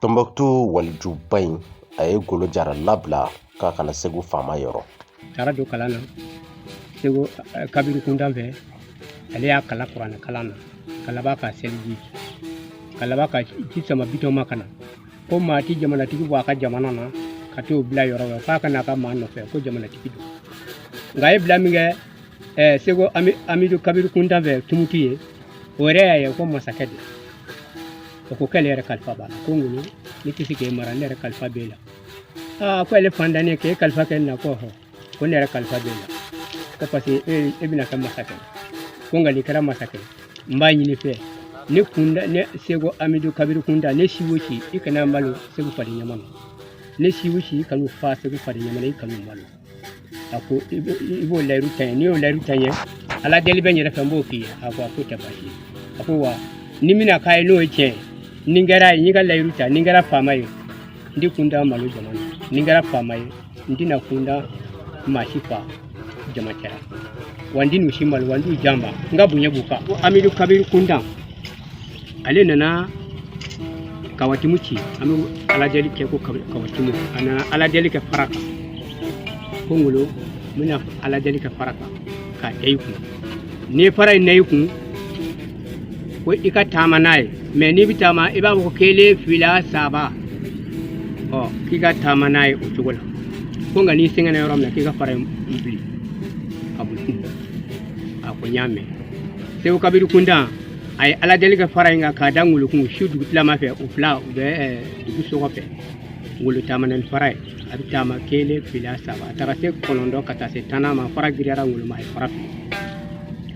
tɔnbɔkutu walijuba in a ye ngolo jara labila k'a ka na segu faama yɔrɔ taara don kalan na seko eh, kabiri kuntan fɛ ale y'a kalan kuranɛ kalan na ka laban k'a seliji ka laban ka ci sama bitɔn ma ka na ko maa ti jamanatigi bɔ a ka jamana na ka t'o bila yɔrɔ wɛrɛ f'a ka n'a ka maa nɔfɛ ko jamanatigi don nka a ye bila min kɛ ɛɛ seko amidu kabiru kuntan fɛ tumutu yen o yɛrɛ y'a ye ko masakɛ don o ko k'ale yɛrɛ kalifa b'a la ko ngolo ne tɛ se k'e mara ne yɛrɛ kalifa b'e la aa ko ale faantannin k'e kalifa kɛ ne na ko hɔ ko ne yɛrɛ kalifa b'e la ko parce que e e bɛna kɛ masakɛ ko nka n'i kɛra masakɛ n b'a ɲini i fɛ ne kunta ne seko amidu kabiru kunta ne si o si i kan'u malo segu fari ɲama na ne si o si i kan'u fa segu fari ɲama na i kan'u malo a ko i b'o layiru ta n'i y'o layiru ta ala deli bɛ n yɛrɛ fɛ n b'o k'i ye a ko a ko tɛ baasi ye a ko wa ni mina k'a ye n'o ye tiɲɛ ye ni n kɛra ye n y'i ka layiru ta ni n kɛra faama ye n tɛ kunta malo jama na ni n kɛra faama ye n tɛna kunta maa si fa jama cɛra wa n tɛn'u si malo wa n t'u janba n ka bonya b'u kan ko amidu kabiru kuntan ale nana kawatimu ci an bɛ ala deli kɛ ko kawatimu a nana ala deli kɛ fara kan ko ngolo n bɛna ala deli kɛ fara kan k'a da i kun n'i ye fara in da i kun ko i ka taama n'a ye mɛ n'i bɛ taama i b'a fɔ ko kelen fila saba ɔ k'i ka taama n'a ye o cogo la ko nka n'i sɛgɛnna yɔrɔ min na k'i ka fara in fili ka boli a ko n y'a mɛn seko kabiri kuntan a ye ala deli kɛ fara in kan k'a da ŋolo kun su dugu tilama fɛ u fila u bɛ eh, dugu sokɔfɛ ŋolo taamana ni fara ye a bɛ taama kelen fila saba a taara se kɔnɔntɔn ka taa se tannan ma fara giriyara ŋolo ma a ye fara fili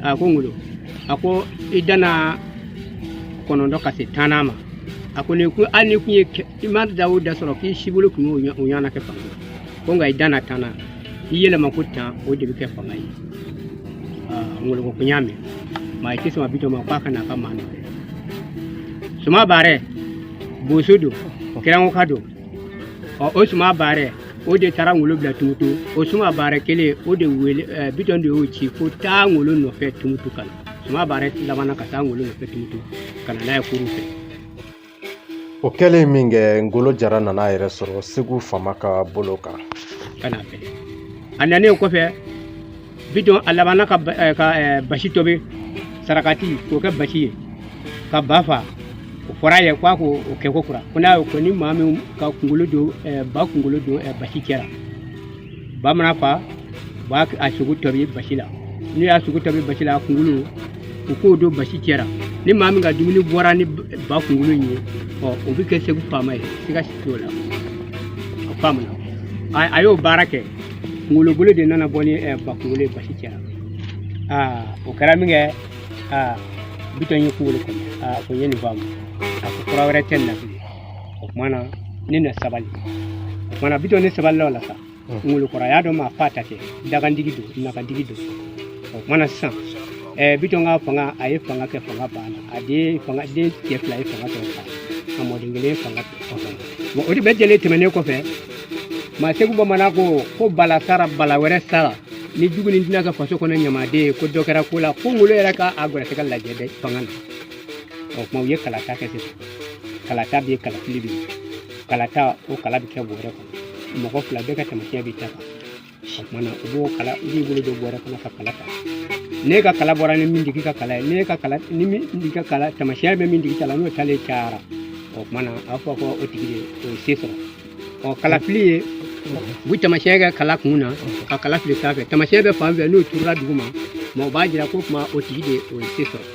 a ko ŋolo a ko i danna kɔnɔntɔn ka se tannan ma a ko ni ko hali n'i kun ye kɛ- i ma da o da sɔrɔ k'i si bolo kun y'o ɲɔ- o ɲɔgɔnna kɛ fanga ko nka i danna tan na i yɛlɛma ko tan o de bɛ kɛ fanga ye ngolo ko n y'a mɛn a ye ci sama bitɔn ma k'a ka n'a ka maa nɔfɛ suma baarɛ boso don kɛrɛnkoka don ɔ o suma baarɛ o de taara ngolo bila tumutu o suma baarɛ kelen o de wele ɛɛ bitɔn de y'o ci ko taa ngolo nɔfɛ tumutu ka na suma baarɛ labanna ka taa ngolo nɔfɛ tumutu ka na n'a ye kuru fɛ O kɛlen min kɛ ngolo jara nana a yɛrɛ sɔrɔ segu faama ka bolo kan a nanen kɔfɛ bitɔn a labanna ka eh, eh, basi tobi sarakati k'o kɛ basi ye ka ba fa o fɔra a ye k'a k'o kɛ kokura ko n'a y'o kɛ ni maa min ka kunkolo don eh, ba kunkolo don basi cɛra ba mana fa u b'a a sogo tobi basi la n'u y'a sogo tobi basi la a kunkolo u k'o don basi cɛra ni maa min ka dumuni bɔra ni ba kunkolo in ye ɔ o bɛ kɛ segu faama ye siga si t'o la a faamuna a y'o baara kɛ ngolo bolo de nana bɔ ni ba kunkolo ye basi cɛra aa o kɛra min kɛ aa bitɔn ye kunkolo kɔnɔ aa ko n ye nin faamu a ko fura wɛrɛ tɛ nin na bilen o kuma na ne na sabali o kuma na bitɔn ne sabalila o la sa ngolo kɔrɔ a y'a dɔn maa faata tɛ dakantigi don nakantigi don o kuma na sisan ɛɛ bitɔn ka fanga a ye fanga kɛ fanga banna a den fanga den cɛ fila ye fanga sɔrɔ fa a mɔden kelen ye fanga sɔrɔ bon o de bɛɛ jɛlen tɛmɛnen kɔfɛ maa segu bamanan ko ko bala sara bala wɛrɛ sara ni jugu ni tɛna kɛ faso kɔnɔ ɲamaden ye ko dɔ kɛra ko la ko ngolo yɛrɛ ka a gɛrɛsɛgɛ lajɛ dɛ fanga na o kuma u ye kalata kɛ sisan kalata bɛ yen kalafili bɛ yen kalata o kala bɛ kɛ bɔrɛ kɔnɔ mɔgɔ fila bɛɛ ka taamasiyɛn bɛ ta kan o kuma na u b'o kala u b'i bolo don bɔrɛ kɔnɔ ka kala ta n'e ka kala bɔra ni min tigi ka kala ye n'e ka kala ni min tigi ka kala taamasiyɛn bɛ min tigi ta la n'o talen cayara o kuma na a b'a fɔ ko o tigi de o ye se sɔrɔ ɔ kalafili ye u bɛ taamasiyɛn kɛ kala kun na ka kala fili sanfɛ taamasiyɛn bɛ fan fɛ n'o turula duguma o b'a jira ko kuma o tigi de o ye se sɔrɔ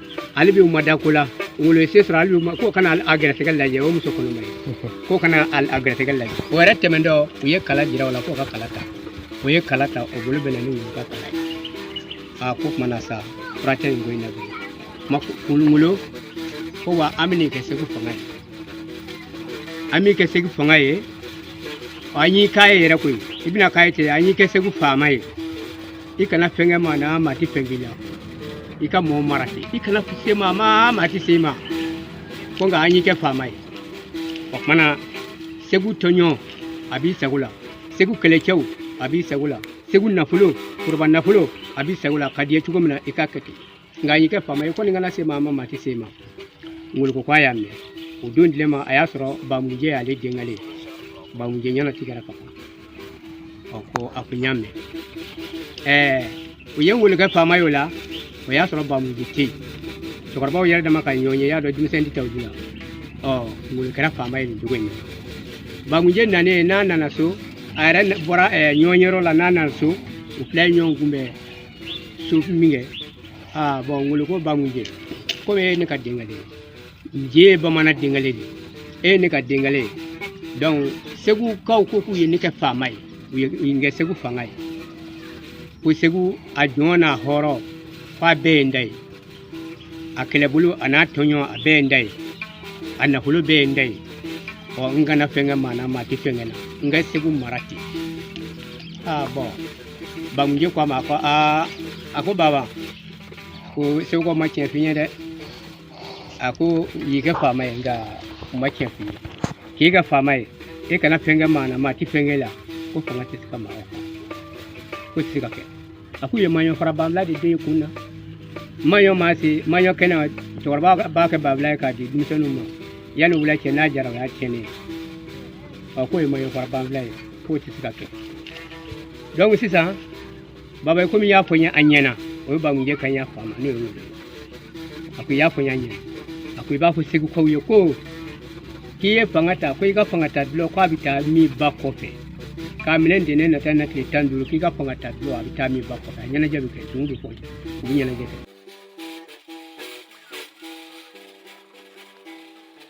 hali bi u ma da ko la ngolo ye se sɔrɔ hali bi k'u ka na a gɛrɛsɛgɛ lajɛ o muso kɔnɔma ye k'o ka na a gɛrɛsɛgɛ lajɛ o yɛrɛ tɛmɛntɔ u ye kala jira o la k'o ka kala ta o ye kala ta o bolo bɛnna ni ngolo ka kala ye a k'o kuma na sa fura tɛ nin ko in na bilen ngolo ko wa an bɛn'i kɛ segu fanga ye an b'i kɛ segu fanga ye an y'i k'a ye yɛrɛ koyi i bɛna k'a ye ten an y'i kɛ segu faama ye i kana fɛn kɛ maa na maa ti fɛn k'i la i ka mɔɔ mara ten i kana se maa ma maa ti se i ma fo nka an y'i kɛ faama ye o kuma na segu tɔnjɔn a b'i sago la segu kɛlɛcɛw a b'i sago la segu nafolo foroba nafolo a b'i sago la ka d'i ye cogo min na i k'a kɛ ten nka an y'i kɛ faama ye kɔni i kana se maa ma maa tɛ se i ma ngolo ko ko a y'a mɛn o don tile ma a y'a sɔrɔ bamujɛ y'ale denkɛ ye bamujɛ ɲɛna tigɛra ka ban ɔ ko a ko n y'a mɛn ɛɛ u ye ngolo kɛ faama ye o la o y'a sɔrɔ bamujɛ tɛ yen cɛkɔrɔbaw yɛrɛ dama ka ɲɔgɔnye y'a dɔn denmisɛn tɛ taa o la ɔ ngolo kɛra faama ye nin cogo in na bamujɛ nanen n'a nana so a yɛrɛ bɔra ɲɔgɔn yɔrɔ la n'a nana so u fila ye ɲɔgɔn kunbɛn so min kɛ aa bon ngolo ko bamujɛ komi e ye ne ka denkale ye nje ye bamanan denkale de ye e ye ne ka denkale ye donc segukaw ko k'u ye ne kɛ faama ye u ye u ye n kɛ segu fanga ye ko segu a jɔn n'a hɔrɔn f'a bɛɛ ye n da ye a kɛlɛbolo a n'a tɔnjɔn a bɛɛ ye n da ye a nafolo bɛɛ ye n da ye ɔ n kana fɛn kɛ maa na maa tɛ fɛn kɛ na n ka segu mara ten aa bon Bamuje ko a ma ko aa a ko baba ko segukaw ma tiɲɛ f'i ye dɛ a k'u y'i kɛ faama ye nka u ma tiɲɛ f'i ye k'i kɛ faama ye e kana fɛn kɛ maa na maa ti fɛn kɛ la ko fanga tɛ se ka maa k'o tɛ se ka kɛ a k'u ye maɲɔ fara banfula de don e kun na maɲɔ maa se maɲɔ kɛnɛ cɛkɔrɔba b'a kɛ banfula ye k'a di denmisɛnninw ma yanni wula cɛ n'a jara o y'a tiɲɛnen ye ɔ k'o ye maɲɔ fara banfula ye k'o tɛ se ka kɛ donc sisan baba komi i y'a fɔ n ye a ɲɛna o ye bamujɛ kan y'a fa ma n'o ye ngolo a ko i y'a fɔ n y'a ɲɛna a ko i b'a fɔ segukaw ye ko k'i ye fanga ta ko i ka fanga ta dɔlɔ k'a bɛ taa min ba kɔfɛ k'a minɛ ntɛnɛn nata na tile tan duuru k'i ka fanga ta dɔlɔ a bɛ taa min ba kɔfɛ a ɲɛnajɛ bɛ kɛ dunun bɛ fɔ u bɛ ɲɛnajɛ kɛ